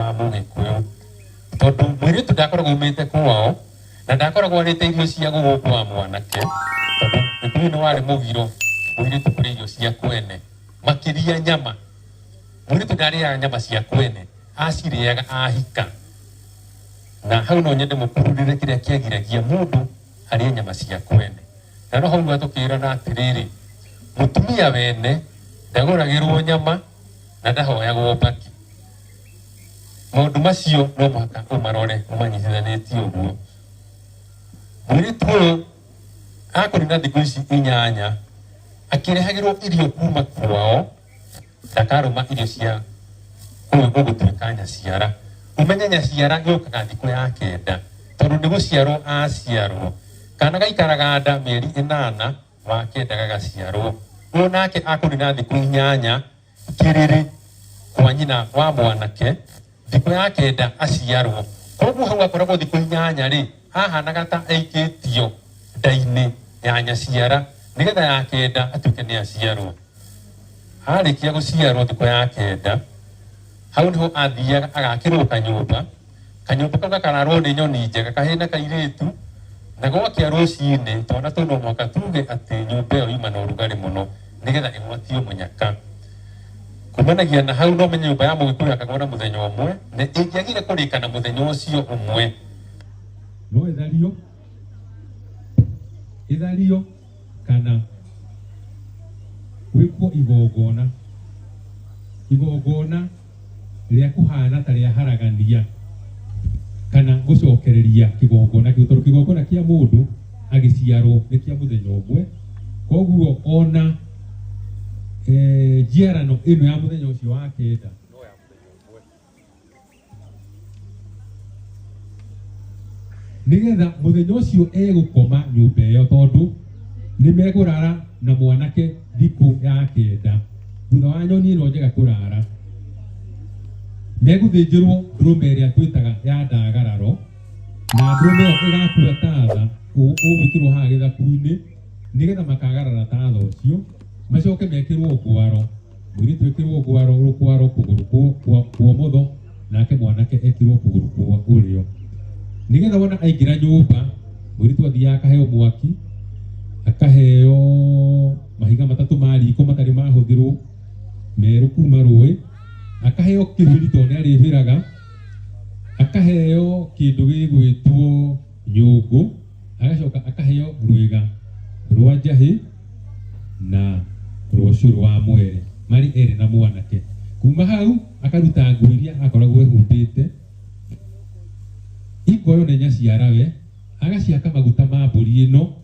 mũndũ gĩkuũ tondũ mwĩirĩtu ndakoragwo umĩte kwao na ndakoragwo arĩte irio cia gũgũ kwa mwanake tondũ gĩkuyu nĩ warĩ mũgiro mũirĩtu kũrĩ irio cia kwene makĩria nyama mũirĩtu ndarĩaga nyama cia kwene acirĩaga ahika na hau no nyende mũkururĩre kĩrĩa kĩagiragia mũndũ arĩe nyama cia kwene na no hau atũkĩrana atĩrĩrĩ mũtumia wene ndagũragĩrwo nyama na ndahoyagwo mbaki Maũndũ macio no mũhaka ũmarore ũmanyitithanĩtie ũguo. Mũirĩtu ũyũ akũrĩ na thikũ ici inyanya akĩrehagĩrwo irio kuma kwao, ndakarũma irio cia ũyũ ũgũtuĩka nyaciara. Ũmenye nyaciara yũkaga thikũ ya kenda tondũ nĩ gũciarwo aciarwo. Kana gaikaraga nda mĩeri ĩnana wa kenda gagaciarwo. Ũyũ nake akũrĩ na thikũ inyanya. kĩrĩrĩ kwa nyina wa mwanake thikũ ya kenda aciarwo. Koguo hau akoragwo thikũ inyanya-rĩ, ahanaga ta aikĩtio nda-inĩ ya nyaciara, nĩgetha ya kenda atuĩke nĩ aciarwo. Arĩkia gũciarwo thikũ ya kenda, hau nĩho athiaga agakĩrwo kanyũmba. Kanyũmba kau gakararwo nĩ nyoni njega, kahĩĩ na kairĩtu, na gwakĩa rũcinĩ, twana tũu no mũhaka tuge atĩ nyũmba ĩyo yuma na ũrugarĩ mũno nĩ getha ĩgwatio mũnyaka. Kumanagia na hau no ũmenye nyũmba ya Mũgĩkũyũ yakagwo na mũthenya ũmwe, na ĩngĩagire kũrĩka na mũthenya ũcio ũmwe, no ĩthario, ĩthario kana gwĩkwo igongona, igongona. rĩa kũhaana ta rĩa haragania kana gũcokereria kĩgongona kĩu tondũ kĩgongona kĩa mũndũ agĩciarwo nĩ kĩa mũthenya ũmwe koguo ona eh, njiarano ĩno ya mũthenya ũcio wa kenda nigetha muthenya ucio egukoma nyumba iyo tondu ni megurara na mwanake thiku ya kenda thutha wa nyoni ino njega kurara meguthinjirwo ndurume ĩrĩa twĩtaga ya ndagararo na ndurume ĩyo ĩgakua tatha ũgwĩkĩrwo haha gĩthaku-inĩ nĩgetha makagarara tatha ũcio macoke mekĩrwo ngwaro Mũirĩtu ekĩrwo ngwaro rũkwaro kũgũrũ kwo- kwa- kwa ũmotho nake mwanake ekĩrwo kũgũrũ kwa ũrĩo nĩgetha wona aingĩra nyũmba mũirĩtu athiaga akaheo mwaki akaheo mahiga matatũ ma riko matarĩ mahũthĩrwo merũ kuma rũĩ akaheo kĩhũri tondũ nĩ arĩhĩraga akaheo kĩndũ gĩgwĩtwo nyũngũ agacoka akaheo rwĩga rwa njahĩ na rwa ũcũrũ wa mwere marĩ erĩ na mwanake kuma hau akaruta nguo iria akoragwo ehumbĩte ikoyo na inya cia rawe agaciaka maguta ma mbũri ĩno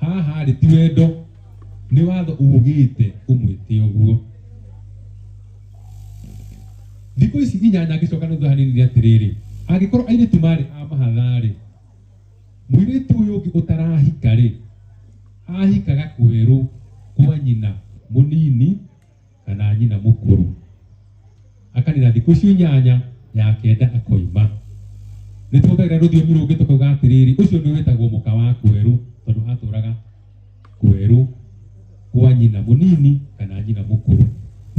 Haha rĩ ti wendo nĩ watho ugĩte umwĩte ũguo. Thikũ ici inyanya ngĩcoka nuthu hanini nĩ atĩrĩrĩ, angĩkorwo airĩtu marĩ a mahatha rĩ, mũirĩtu ũyũ ũngĩ ũtarahika rĩ, ahikaga kwerũ kwa nyina mũnini kana nyina mũkũrũ akanina thikũ icio inyanya ya kenda akoima nĩ tũhũthagĩra rũthiomi rũngĩ tũkauga atĩrĩrĩ ũcio nĩ wĩtagwo mũka wa kwerũ tondũ atũraga kwerũ kwa nyina mũnini kana nyina mũkũrũ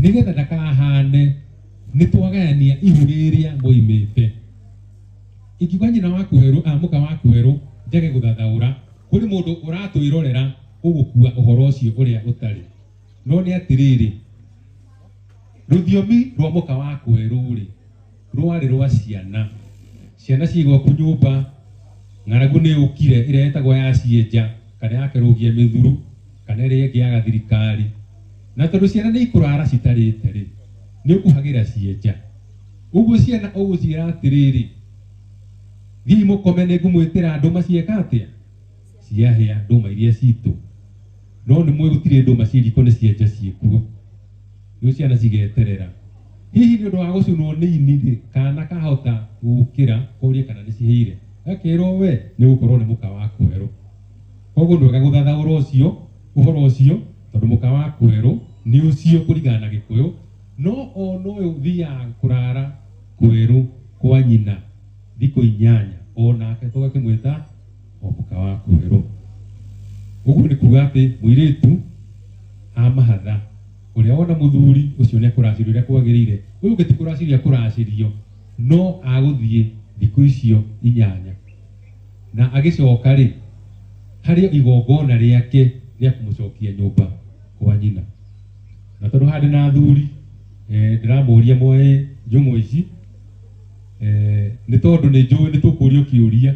nĩgetha ndakahane nĩ twagayania ihu rĩrĩa moimĩte ingiuga nyina wa kwerũ a mũka wa kwerũ njage gũthathaũra kũrĩ mũndũ ũratwĩrorera ũgũkua ũhoro ũcio ũrĩa ũtarĩ No nĩ atĩrĩrĩ, rũthiomi rwa mũka wa kwerũ-rĩ, rwarĩ rwa ciana. Ciana ciĩ gwaku nyũmba, ng'aragu nĩ yũkire, ĩrĩa ĩtagwo ya cienja, kana ya kĩrũgia mĩthuru, kana ĩrĩa ĩngĩ ya gathirikari. Na tondũ ciana nĩ ikũrara citarĩte-rĩ, nĩ ũkuhagĩra cienja. Ũguo ciana ũgũciĩra atĩrĩrĩ, thiĩi mũkome nĩ ngũmwĩtĩra andũ, macieka atĩa? ciahĩa ndũma iria citũ no nĩ mwĩ gũtirĩ ndũma ciĩ riko nĩ cienja ciĩkuo rĩu ciana cigeterera hihi nĩ ũndũ wa gũcunwo nĩ ini rĩ kana kahota gũkĩra korie kana nĩ cihĩire gakerwo we nĩ gũkorwo nĩ mũka wa kwerũ koguo nĩ wega gũthathaũra ũcio ũhoro ũcio tondũ mũka wa kwerũ nĩ ũcio kũringana na gĩkũyũ no ona ũyũ ũthiaga kũrara kwerũ kwa nyina thikũ inyanya onake tũgakĩmwĩta omuka wa kuhero uguo ni kuga ati muiritu amahatha uria wona muthuri ucio ni akuracirio uria kwagirire uyu ungi ti kuracirio akuracirio no aguthie thiku icio inyanya na agicoka ri hari igongona riake ria kumucokia nyumba kwa nyina na tondu handi na athuri eh, ndiramuria moe njumu ici eh, ni tondu ni njui ni tukurio kiuria